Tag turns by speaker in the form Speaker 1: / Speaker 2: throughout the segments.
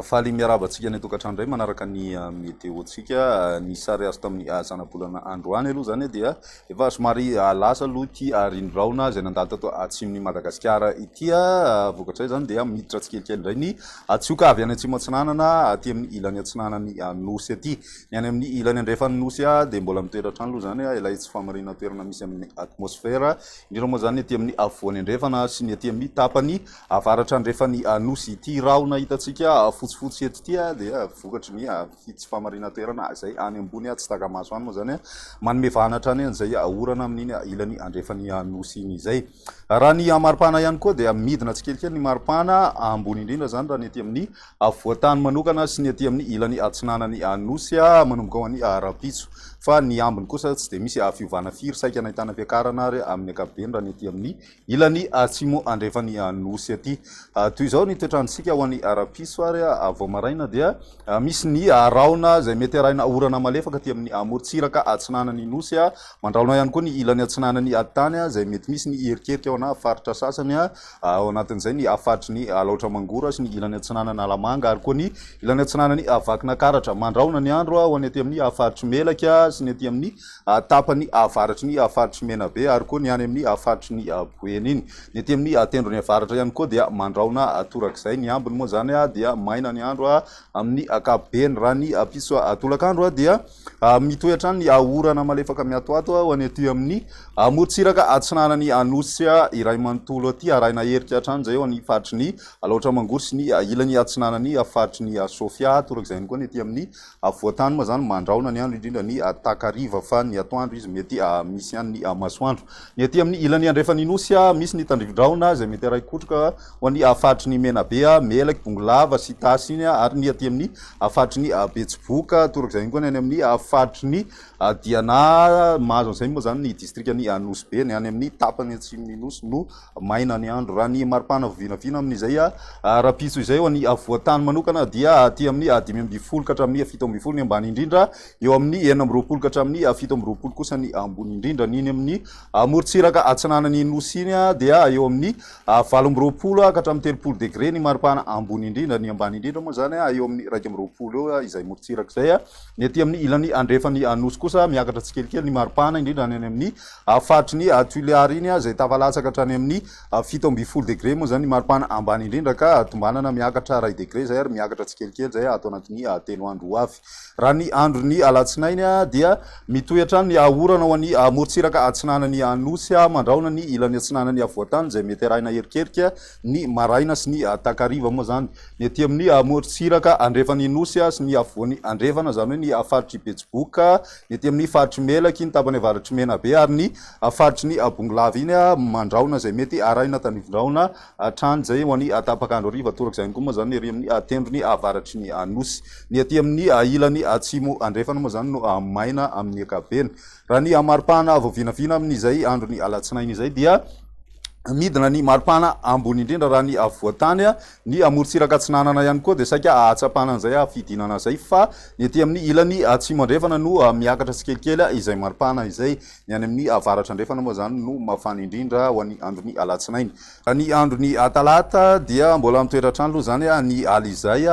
Speaker 1: Faly miarahaba antsika any an-tokantrano indray manaraka ny ah, meteontsika. Ah, ny sary azo tamin'ny ah, zanabolana androany aloha izany dia efa somary lasa aloha ity rindraona izay nandalo tato atsimon'i Madagasikara ity. Vokatra izany dia miditra tsikelikely indray ny atsioka avy any atsimo atsinanana aty amin'ny ilany atsinanan'ny nosy aty. Ny any amin'ny ilany andrefan'ny Nosy dia mbola mitoetra hatrany aloha izany ilay tsy fahamariana toerana misy amin'ny atmosfera, indrindra moa izany ny ety amin'ny afovoany andrefana sy ny ety amin'ny tapany avaratra andrefan'ny Nosy. Ity rahona hitantsika fotsifotsy eto ity dia vokatry ny tsy fahamariana toerana izay any ambony tsy taka-maso any moa izany manome vahana hatrany an'izay orana amin'iny ilany andrefan'ny Nosy iny izay. Raha ny maripana ihany koa dia midina tsikelikely ny maripana ambony indrindra izany raha ny ety amin'ny afovoan-tany manokana sy ny aty amin'ny ilany atsinanan'ny Anosy manomboka ho any Rampitso fa ny ambiny kosa tsy dia misy fiovana firy saika nahitana fiakarana ary amin'ny ankapobeny raha ny aty amin'ny ilany atsimo andrefan'ny Anosy aty. Toy izao ny toetrantsika ho any Rampitso ary vao maraina dia misy ny rahona izay mety arahina orana malefaka aty amin'ny amorontsiraka atsinanan'ny Nosy mandrahona ihany koa ny ilany atsinanan'ny tany izay mety misy ny hierikerika ho ana faritra sasany ao anatin'izay ny faritry ny Alaotra Mangoro sy ny ilany atsinanan'i Analamanga ary koa ny ilany atsinanan'i Vakinakaratra. Mandrahona ny andro ho an'ny aty amin'ny faritry Melaky sy ny aty amin'ny tapany avaratry ny faritry Menabe ary koa ny any amin'ny faritry ny Boeny iny. Ny aty amin'ny tendrony avaratra ihany koa dia mandrahona torak'izay. Ny ambiny moa izany dia maina ny andro amin'ny ankapobeny. Raha ny piso tolakandro dia. Mitohy hatrany ny orana malefaka miatoato ho any aty amin'ny amorontsiraka atsinanan'ny Anosy iray manontolo aty, arahina erika hatrany izay eo amin'ny faritry ny Alaotra Mangoro sy ny ilany atsinanan'ny faritry ny Sofia, torak'izay ihany koa ny aty amin'ny afovoan-tany moa izany mandraona ny andro indrindra ny takariva fa ny atoandro izy mety misy ihany ny masoandro. Ny aty amin'ny ilany andrefan'ny Nosy misy ny tandrivi-drahona izay mety harahin-kotroka ho an'ny faritry ny Menabe, Melaky, Bongolava sy Tasy iny ary ny aty amin'ny Hafatry ny betsiboka, toraka izay ihany koa ny any amin'ny hafatry ny diana. Mahazo an'izay moa izany ny distrikan'i Anosibe, ny any amin'ny tapany atsimon'ny Nosy no maina ny andro. Raha ny maripana avy vinavina amin'izay rahampitso izay, ho an'ny afovoan-tany manokana dia aty amin'ny dimy ambin'ny folo ka hatramin'ny fito ambin'ny folo ny ambany indrindra, eo amin'ny enina amby roapolo ka hatramin'ny fito amby roapolo kosa ny ambony indrindra. Ny eny amin'ny morontsiraka atsinanan'ny Nosy iny dia eo amin'ny Valo amby roapolo ka hatramin'ny telopolo degre ny maripana ambony indrindra. Ny ambany indrindra moa izany eo amin'ny iraika amby roapolo eo izay morontsiraka izay. Ny aty amin'ny ilany andrefan'ny Anosy kosa miakatra tsikelikely ny maripana indrindra any amin'ny faritry ny Tuléar iny izay tafalatsaka hatrany amin'ny fito ambin'ny folo degre moa izany ny maripana ambany indrindra ka tombanana miakatra iray degre izay ary miakatra tsikelikely izay ato anatin'ny telo andro ho avy. Raha ny andron'ny alatsinainy dia mitohy hatrany ny hahaorana ho an'ny morontsiraka atsinanan'ny Anosy mandrahona ny ilany atsinanan'ny Havoantany izay mety arahina erikerika ny maraina sy ny takariva moa izany ny aty amin'ny morontsiraka andrefan'ny Nosy sy ny afovoany andrefana izany hoe ny faritr'i Betsiboka ny aty amin'ny faritr'i Melaky ny tapany avaratr'i Menabe ary ny faritry ny Bongolava iny mandrahona izay mety arahina tandrifin-drahona Hatrany izay ho any tapak'andro hariva torak'izay ihany koa moa izany ny ery amin'ny tendrony avaratry ny Nosy. Ny aty amin'ny ilany atsimo andrefana moa izany no maina amin'ny ankapobeny. Raha ny maripana vao vinavina amin'izay andron'ny alatsinainy izay dia midina ny maripana ambony indrindra raha ny afovoan-tany. Ny morontsiraka atsinanana ihany koa dia saika hahatsapana an'izay hahafidinana izay fa ny aty amin'ny ilany atsimo andrefana no miakatra tsikelikely izay maripana izay. Ny any amin'ny avaratra andrefana moa izany no mafana indrindra ho an'ny andron'ny alatsinainy. Ny andron'ny talata dia mbola mitoetra hatrany aloha izany ny ala izay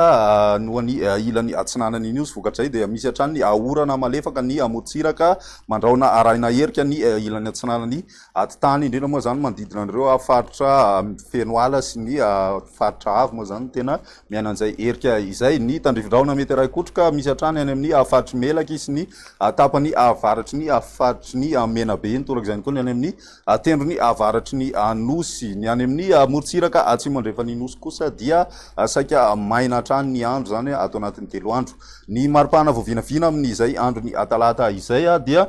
Speaker 1: no any ilany atsinanan'ny Nosy. Vokatra izay dia misy hatrany ny orana malefaka ny morontsiraka mandrahona arahina erika ny ilany atsinanan'ny atitany, indrindra moa izany manodidina an'ireo faritra feno ala sy ny faritra avo moa izany no tena Miainan'izay herika izay ny tandrifindrahona Meteray-Kotroka misy hatrany any amin'ny faritry ny Melaky sy ny tapany avaratry ny faritry ny Menabe iny, torak'izay ihany koa ny any amin'ny tendrony avaratry ny Nosy. Ny any amin'ny morontsiraka atsimo andrefan'ny Nosy kosa dia saika maina hatrany ny andro, izany ato anatin'ny telo andro. Ny mari-pahana vao vinavina amin'izay andron'ny talata izay dia.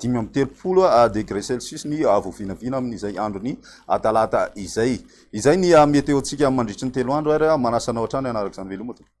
Speaker 1: dimy amby telopolo degré celsius ny voavinavina amin'izay andron'ny talata izay. Izay ny meteontsika mandritry ny telo andro ary manasa anao hatrany hanaraka izany veloma tompoko.